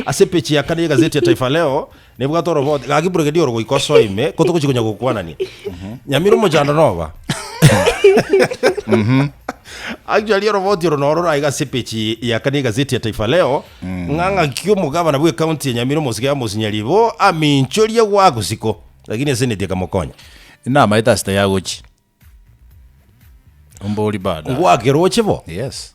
Ase peji ya kane y'egazeti ya Taifa Leo nebwate oroboti, Gaki Brigadier oro goika osoe ime, ko togochia konya gokwanania. Nyamira omochando noba. Actually oroboti oro noro raiga ase peji ya kane y'egazeti ya Taifa Leo, ng'a ng'aki omogabana bw'ecounty ya Nyamira omosike ya Mosinyari bo aminchoria gw'agusiko, lakini eseneti ekamokonya. Namaete ase taiagochi. Ombori bado. Ngwakeroche bo. Yes.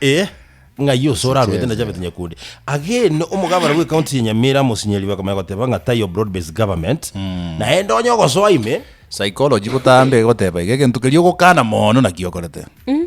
Eh, ng'ai ose oraruete na Javeth Nyakundi agene omogabana bwe county ya Nyamira mosinyeri bakamanya goteba ng'a tayo broad based government hmm. naye ndonye ogosoa ime psychology botambe goteba iga egento keria ogokana mono naki okorete hmm.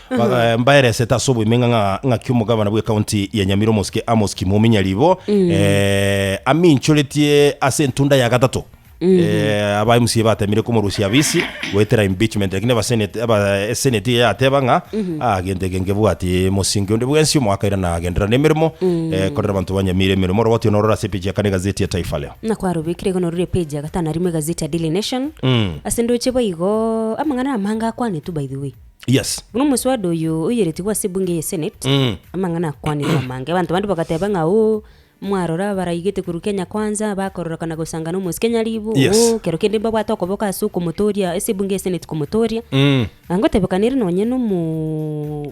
Baga- eh, mbaeresete ase oboimenga ng'a ng'aki omogabana bw'ecounty ya Nyamira omosike Amos Kimomi Nyaribo eh, aminchoretie ase entunda ya gatato Eh, aba MCA batemire komorusia abisi goetera impeachment lakini abasenate aba esenate yateba ng'a ah gento eke nkebwati mosinge onde bwensi omwaka ira nagendera nemeremo eh, korera abanto ba Nyamira emeremo rogo tionorora ase page ya kane gazeti ya Taifa Leo nakwarobekire igo norure page ya gatano arimo egazeti ya daily nation ase ndoche boigo amang'ana amange akwanetwe by the way Yes. Buna omoswada oyo oyeretigwe ase ebunge ye senate Mm. amang'ana akwanirwe amange abanto bande bagateba ng'a oo mwarora abaraigete korwa kenya kwanza bakororokana gosanga na omosike nyaribu Yes. oo kero kende mbabwate okoboka ase okomotoria ase ebunge ye senate komotoria Mm. na ngotebekana ere nonye nomo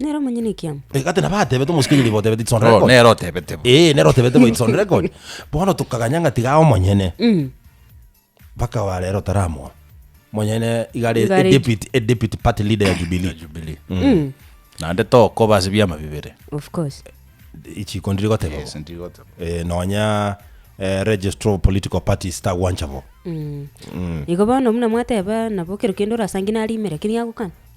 Nere omonyene ekiamo. Eh, gati nabo atebete omosikenyeri nigo otebete it's on Oh, record. nero otebete bo. Eh, nero otebete bo it's on record. Bono tokaganya ng'a tiga omonyene. Mm. Mpaka wa rero taramoa. Monyene igare Igare- deputy a deputy party leader ya Ya Jubilee. Jubilee. Mm. Naende tokoba ase biama bibere. Of course. Ichiko ndiri goteba. Yes, ndigoteba. Eh, nonya eh, registrar of political parties tagwancha bo. Mm. Igo bono buna mwateba nabo kero kende orasangi narimera keri agokana.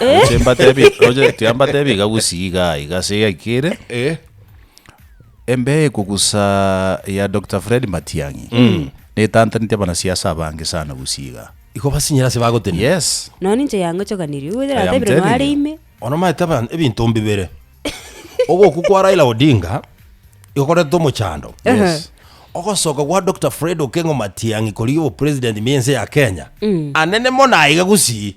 Roche mbatebi, roche tia mbatebi iga gusii iga iga ase egekire. Eh. Embe ekogusa ya Dr. Fred Matiang'i. Netantaneti abanasiasa abange sana gusii iga. Igo basinyire ase bagotenena. Yes. Nonya ninche yangochoganirie, ogoetera I am natebirie telling noare you. ime. Ono maete aba- ebinto mbibere. Ogokwa kwa Raila Odinga igo korentete omochando. Yes. Ogosoka gwa Dr. Fred Okengo Matiang'i korigia obopresident bwense ya Kenya. Anene mono aiga gusii.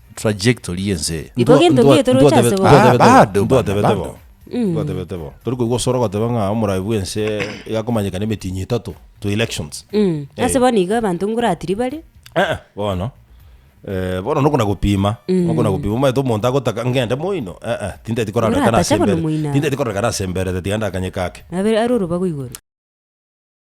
trajectory y'ense eye. Iko gento Ndwa- gete roche ase ndwatebe- bo. Ah, bado, ndwatebete bado. bo ndwatebete bo tori koigwa osoro ogoteba ng'a omoraai bw'ense igakomanyeka na emetinyi etato to elections Mm. Eh. Ase bono iga abanto ngoratiri bare. Eh, eh, bono Eh, bono nokona gopima nokona gopima omanyete omonto agotaka ngende moino eh, eh, tinteti korarekana Oratacha ase bono mbere moino. tinteti korarekana ase mberete tiga ndakanye kake Abe ari orobago igoro.